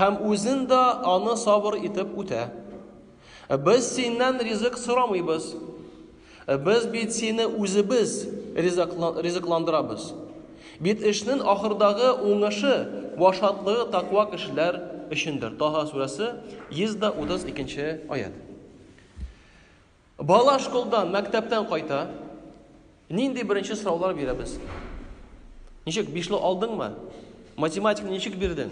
һәм үзен дә аны сабыр итеп үтә. Без синнән ризык сорамыйбыз. Без бит сине үзебез ризыкландырабыз. Бит эшнең ахырдагы уңышы вә шатлыгы таква кешеләр өчендер. Таһа сүрәсе 132 нче аять. Бала школдан, мәктәптән кайта. Нинди беренче сораулар бирәбез? Ничек, бишле алдыңмы? Математиканы ничек бирдең?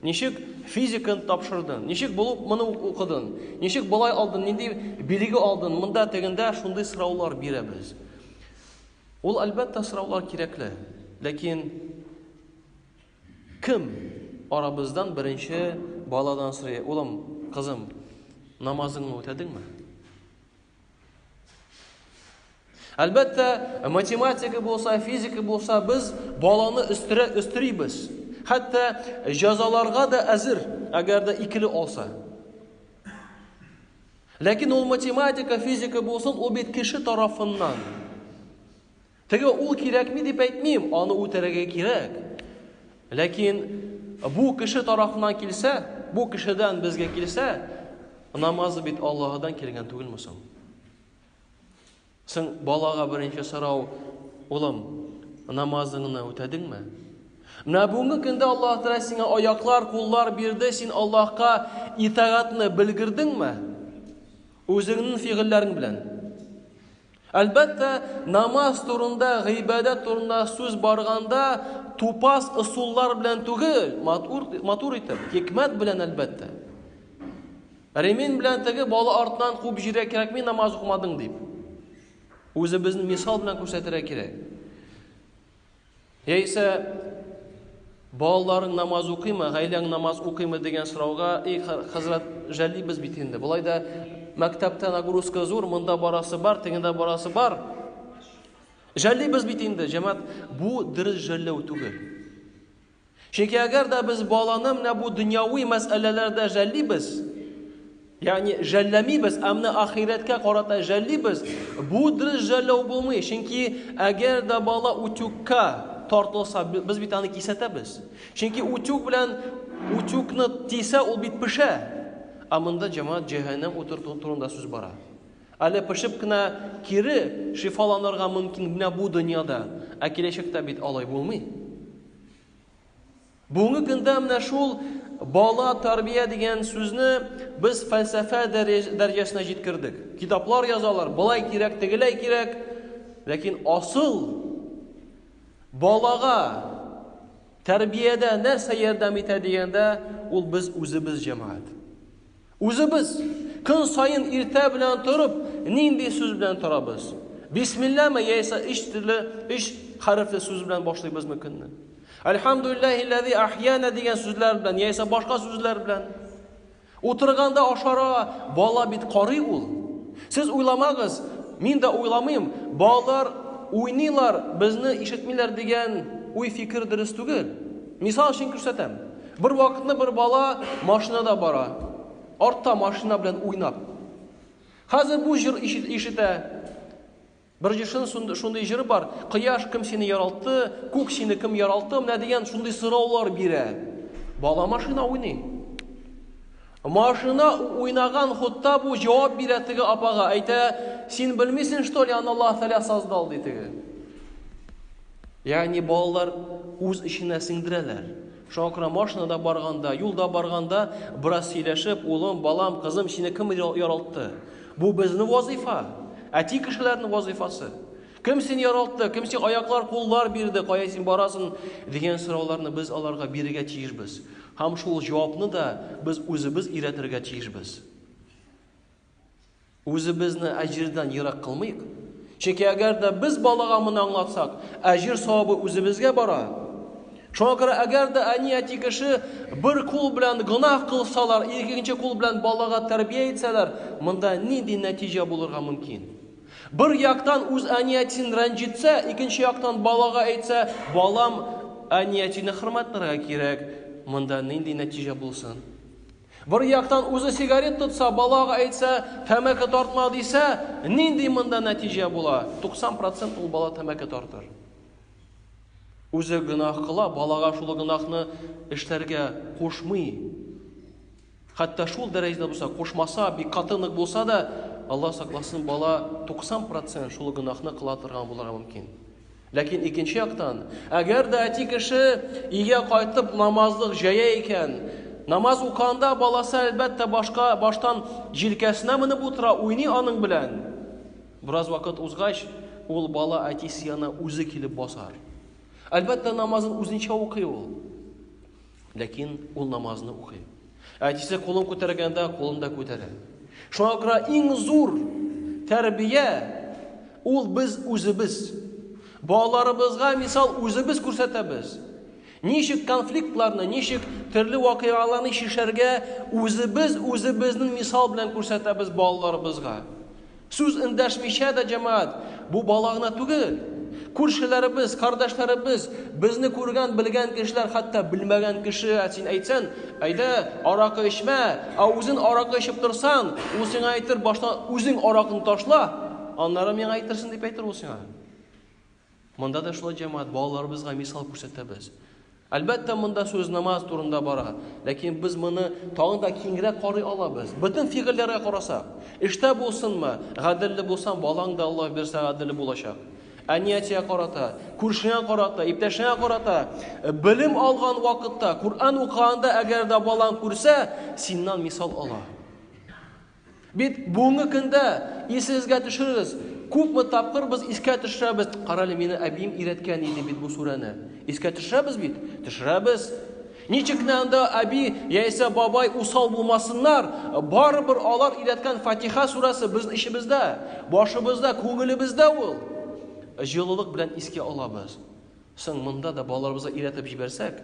Ничек физиканы тапшырдың? Ничек булып моны укыдың? Ничек болай алдың? Нинди билеге алдың? Монда тегендә шундый сораулар бирәбез. Ул әлбәттә сораулар кирәкле, ләкин Кем арабыздан беренче баладан сорый, улым, кызым, намазыңны үтәдеңме? Әлбәттә, математика булса, физика булса, без баланы өстерә өстерибез. Хәтта җәзаларга да әзер, әгәр дә икеле алса. Ләкин ул математика, физика булсын, ул бит кеше тарафыннан. Теге ул кирәкми дип әйтмим, аны үтерергә кирәк. Ләкин бу кеше тарафыннан килсә, бу кешедән безгә килсә, намазы бит Аллаһыдан килгән түгелме соң? Соң балага беренче сорау, улым, намазыңны үтәдеңме? Менә бүгенге көндә Аллаһ Тәгалә сиңа аяклар, куллар бирде, син Аллаһка итагатьне белгердеңме? Үзеңнең фигыльләрең белән. Әлбәттә, намаз турында, гыйбадәт турында сүз барганда, тупас ысуллар белән түгел, матур, матур итеп, хикмәт белән, әлбәттә. Ремин белән теге бала артынан куып җирә кирәкми намаз укымадың дип. Үзебезне мисал белән күрсәтергә кирәк. Яисә балаларың намаз укыймы, гаиләң намаз укыймы дигән сорауга, и хәзрәт, жәллибез бит инде. Болай да мәктәптә нагрузка зур, монда барасы бар, тегендә барасы бар. Жәллибез бит инде, җәмәт, бу дөрес жәлләү түгел. Чөнки әгәр дә без баланы менә бу дөньяви мәсьәләләрдә жәллибез, ягъни жәлләмибез, ә менә ахирәткә карата жәллибез, бу дөрес жәлләү булмый. Чөнки әгәр дә бала утюгка тартылса, без бит аны кисәтәбез. Чөнки утюг белән утюгны тисә, ул бит пешә. Ә монда җәмәгать җәһәннәм утыр турында сүз бара. Әле пешеп кенә кире шифаланырга мөмкин менә бу дөньяда, ә киләчәктә бит алай булмый. Бүгенге көндә менә шул бала тәрбия дигән сүзне без фәлсәфә дәрәҗәсенә җиткердек. Китаплар язалар, болай кирәк, тегеләй кирәк. Ләкин асыл балага тәрбиядә нәрсә ярдәм итә дигәндә, ул без үзебез җәмәгать. Үзебез көн саен иртә белән торып, нинди сүз белән торабыз? Бисмилләме яисә өч төрле өч хәрефле сүз белән башлыйбызмы көнне? Альхамдулиллахи ләзи ахьяна дигән сүзләр белән яисә башка сүзләр белән. Утырганда ашара бала бит карый ул. Сез уйламагыз, мин дә уйламыйм, балалар уйныйлар, безне ишетмиләр дигән уй-фикер дөрес түгел. Мисал өчен күрсәтәм. Бер вакытны бер бала машинада бара. Артта машина белән уйнап. Хәзер бу җыр ишетә. Бер җыршын шундый җыры бар. Кояш кем сине яралты, күк сине кем яралты, менә дигән шундый сораулар бирә. Бала машина уйный. Машина уйнаган хутта бу җавап бирә теге апага. Әйтә, син белмисең, что ли, аны Аллаһ Тәгалә создал, ди теге. Ягъни балалар үз эченә сеңдерәләр. Шуңа күрә машинада барганда, юлда барганда бераз сөйләшеп, улым, балам, кызым, сине кем яралтты? Бу безнең вазыйфа, әти кешеләрнең вазыйфасы. Кем сине яралтты, кем сиңа аяклар, куллар бирде, кая син барасың дигән сорауларны без аларга бирергә тиешбез. Һәм шул җавапны да без үзебез өйрәтергә тиешбез. Үзебезне әҗирдән ерак кылмыйк. Чөнки әгәр дә без балага моны аңлатсак, әҗир савабы үзебезгә бара. Шуңа күрә әгәр дә әни-әти кеше бер кул белән гөнаһ кылсалар, икенче кул белән балага тәрбия итсәләр, монда нинди нәтиҗә булырга мөмкин? Бер яктан үз әни-әтисен рәнҗетсә, икенче яктан балага әйтсә, балам, әни-әтине хөрмәтләргә кирәк. Монда нинди нәтиҗә булсын? Бер яктан үзе сигарет тотса, балага әйтсә, тәмәке тартма дисә, нинди монда нәтиҗә була? 90% ул бала тәмәке тартыр. Үзе гөнаһ кыла, балага шул гөнаһны эшләргә кушмый. Хәтта шул дәрәҗәдә булса, кушмаса, бик каты нык булса да, Алла сакласын, бала 90% шул гөнаһны кыла торган булырга мөмкин. Ләкин икенче яктан, әгәр дә әти кеше өйгә кайтып намазлык җәя икән, намаз уканда баласы әлбәттә башка баштан җилкәсенә менеп утыра, уйный аның белән. Бераз вакыт узгач, ул бала әтисе янына үзе килеп басар. Әлбәттә намазын үзенчә укый ул. Ләкин ул намазны укый. Әтисе кулын күтәргәндә, кулын да күтәрә. Шуңа күрә иң зур тәрбия ул без үзебез. Балаларыбызга мисал үзебез күрсәтәбез. Ничек конфликтларны, ничек төрле вакыйгаларны чишәргә үзебез үзебезнең мисал белән күрсәтәбез балаларыбызга. Сүз эндәшмичә дә җәмәгать, Бу бала гына түгел! Күршеләребез, кардәшләребез, безне күргән, белгән кешеләр, хәтта белмәгән кеше син әйтсән, Әйдә, аракы эчмә, ә үзен аракы эчеп торсаң, ул сиңа әйтер, Башта үзең аракыны ташла, аннары миңа әйтерсең, дип әйтер ул сиңа. Монда да шулай, җәмәгать, балаларыбызга мисал күрсәтәбез. Әлбәттә, монда сүз намаз турында бара, ләкин без моны тагын да киңрәк карый алабыз. Бөтен фигыльләргә карасак, эштә булсынмы, гаделле булсаң, балаң да Аллаһ бирсә гаделле булачак. Әниятия карата, күршеңә карата, иптәшеңә карата, белем алган вакытта, Коръән укыганда әгәр дә балаң күрсә, синнан мисал ала. Бит бүгенге көндә, исегезгә төшерегез, күпме тапкыр без искә төшерәбез, карале, мине әбием өйрәткән иде бит бу сүрәне. Искә төшерәбез бит? Төшерәбез. Ничек кенә анда әби яисә бабай усал булмасыннар, барыбер алар өйрәткән Фатиха сүрәсе безнең эчебездә, башыбызда, күңелебездә ул. Җылылык белән искә алабыз. Соң монда да балаларыбызга өйрәтеп җибәрсәк,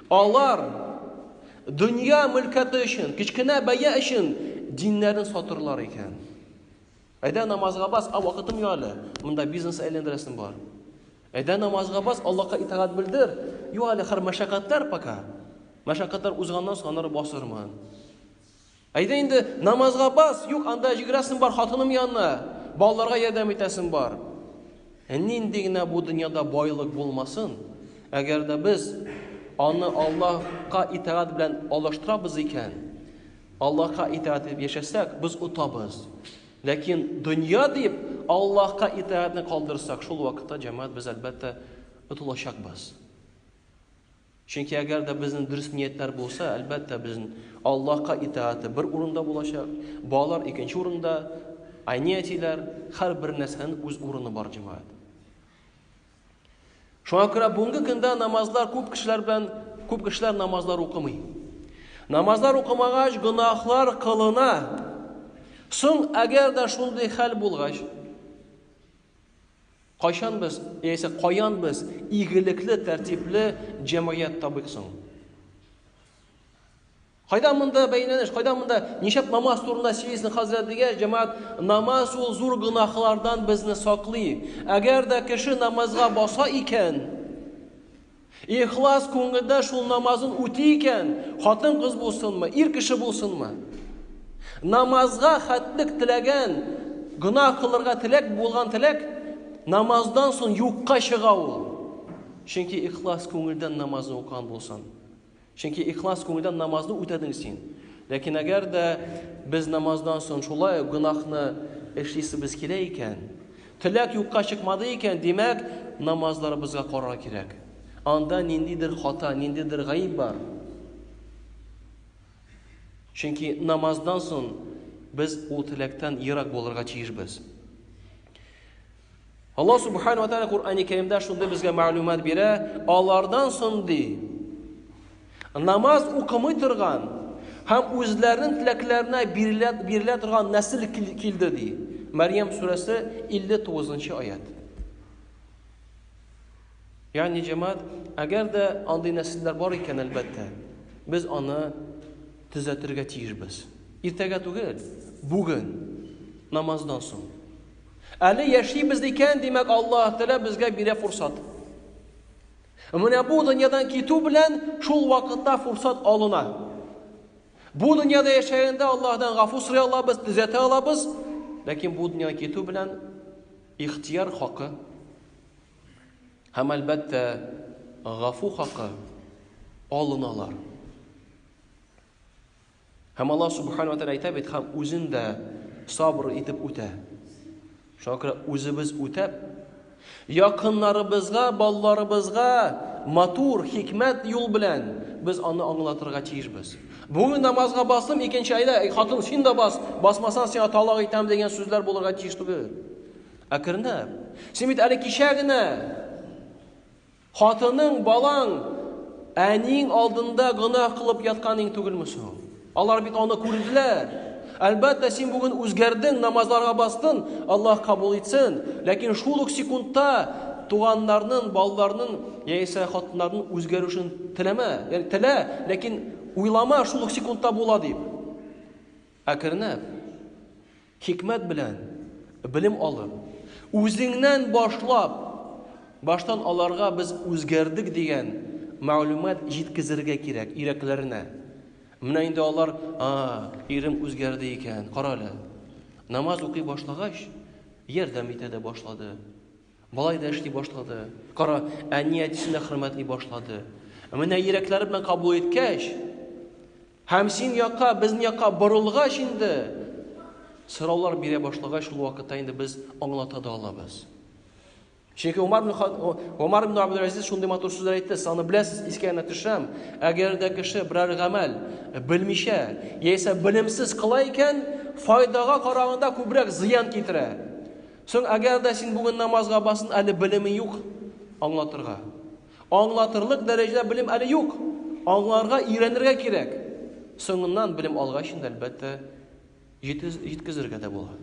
Алар, дөнья мөлкәте өчен, кечкенә бәя өчен диннәрен сатырлар икән. Әйдә намазга бас, а вакытым юк әле. Монда бизнес әйләндерәсем бар. Әйдә намазга бас, Аллаһка итагать белдер. Юк әле хәр мәшәкатьләр пока. Мәшәкатьләр узганнан соң аннары басырмын. Әйдә инде, намазга бас! Юк, анда җигрәсем бар хатыным янына, балаларга ярдәм итәсем бар. Ә нинди генә бу дөньяда байлык булмасын, әгәр дә без аны Аллаһка итагать белән алыштырабыз икән, Аллаһка итагать итеп яшәсәк, без отабыз. Ләкин дөнья дип Аллаһка итагатьне калдырсак, шул вакытта җәмәгать без әлбәттә отылачакбыз. Чөнки әгәр дә безнең дөрес ниятләр булса, әлбәттә безнең Аллаһка итааты бер урында булачак, балалар икенче урында, әни-әтиләр, һәр бер нәрсәнең үз урыны бар җәмәгать. Шуңа күрә бүгенге көндә намазлар күп кешеләр белән күп кешеләр намазлар укымый. Намазлар укымагач, гөнаһлар кылына. Соң, әгәр дә шундый хәл булгач, Кайчан без, яисә каян без игелекле, тәртипле җәмгыять табыйк соң? Кайда монда бәйләнеш, кайда монда ничәп намаз турында сөйлисең хәзрәт дигәч, җәмәгать намаз ул зур гынахлардан безне саклый. Әгәр дә кеше намазга баса икән, Ихлас күңелдә шул намазын үти икән, хатын-кыз булсынмы, ир кеше булсынмы. Намазга хәтлек теләгән, гөнаһ кылырга теләк булган теләк намаздан соң юкка чыга ул. Чөнки ихлас күңелдән намазны укыган булсын. Чөнки ихлас күңелдән намазны үтәдең син. Ләкин әгәр дә без намаздан соң шулай ук гөнаһны эшлисебез килә икән, теләк юкка чыкмады икән, димәк, намазларыбызга карарга кирәк. Анда ниндидер хата, ниндидер гаеп бар. Чөнки намаздан соң без ул теләктән ерак булырга тиешбез. Аллаһ субхана ва тәгалә Куръани Кәримдә шундый безгә мәгълүмат бирә, алардан соң ди. Намаз укымый торган һәм үзләренең теләкләренә бирелә, бирелә торган нәсел килде ди. Мәрьям сүрәсе 59 аят. Ягъни җәмәгать, әгәр дә андый нәселләр бар икән, әлбәттә, без аны төзәтергә тиешбез. Иртәгә түгел, бүген намаздан соң. Әле яшибез икән, димәк, Аллаһ Тәгалә безгә бирә фурсат. Менә бу дөньядан китү белән шул вакытта фурсат алына. Бу дөньяда яшәгәндә Аллаһдан гафу сорый алабыз, төзәтә алабыз, ләкин бу дөньядан китү белән ихтияр хакы һәм әлбәттә гафу хакы алыналар. Һәм Аллаһ Субхану Атәлә әйтә бит, һәм үзен дә сабыр итеп үтә. Шуңа күрә үзебез үтәп, якыннарыбызга, балаларыбызга матур, хикмәт юл белән без аны аңлатырга тиешбез. Бүген намазга бастым, икенче айда, эй, хатын, син дә бас, басмасаң сиңа талак итәм дигән сүзләр булырга тиеш түгел. Әкренләп. Син бит әле кичә генә Хатының, балаң, әниең алдында гөнаһ кылып ятканың түгелме соң? Алар бит аны күрделәр. Әлбәттә, син бүген үзгәрдең, намазларга бастын, Аллаһ кабул итсен. Ләкин шул ук секундта туганнарның, балаларның яисә хатыннарның үзгәрүшен теләмә. Ягъни телә, ләкин уйлама шул ук секундта була дип. Әкренләп. Хикмәт белән белем алып, үзеңнән башлап, баштан аларга без үзгәрдек дигән мәгълүмат җиткезергә кирәк йөрәкләренә. Менә инде алар, а, ирем үзгәрде икән, карале. Намаз укый башлагач, ярдәм итә дә башлады. Болай да эшли башлады. Кара, әни-әтисен дә хөрмәтли башлады. Ә менә йөрәкләре белән кабул иткәч, һәм син якка, безнең якка борылгач инде, сораулар бирә башлагач, шул вакытта инде без аңлата да алабыз. Чөнки Умар ибн Умар ибн Абдул Азиз шундый матур сүзләр әйтте, саны беләсез, искә генә төшәм. Әгәр дә кеше берәр гамәл белмичә, яисә белемсез кыла икән, файдага караганда күбрәк зыян китерә. Соң әгәр дә син бүген намазга басын әле белеме юк аңлатырга. Аңлатырлык дәрәҗә белем әле юк. Аңларга, өйрәнергә кирәк. Соңыннан белем алгач инде әлбәттә җиткезергә дә була.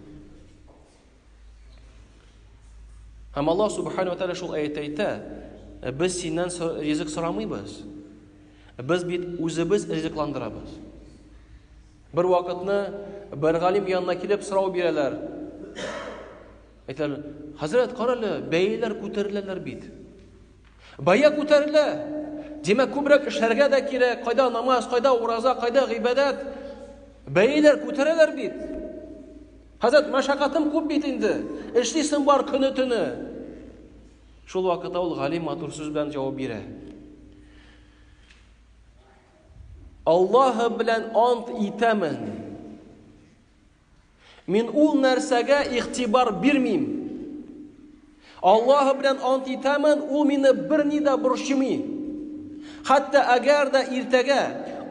Һәм Аллаһ субхану ва тааля шул аятта әйтә, «Ә без синнән ризык сорамыйбыз. Ә без бит үзебез ризыкландырабыз. Бер вакытны бер галим янына килеп сорау бирәләр. Әйтәләр, хәзрәт, карале, бәяләр күтәреләләр бит. Бая күтәрелә. Димәк, күбрәк эшләргә дә кирәк. Кайда намаз, кайда ураза, кайда гыйбадәт? Бәяләр күтәрәләр бит. Хәзрәт, мәшәкатем күп бит инде. Эшлисең бар көне төне. Шул вакытта ул галим матур сүз белән җавап бирә. Аллаһым белән ант итәмен, мин ул нәрсәгә игътибар бирмим. Аллаһым белән ант итәмен, ул мине берни дә борчымый. Хәтта әгәр дә иртәгә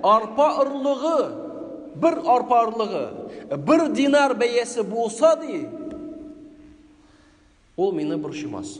арпа орлыгы, бер арпа орлыгы, бер динар бәясе булса ди, ул мине борчымас.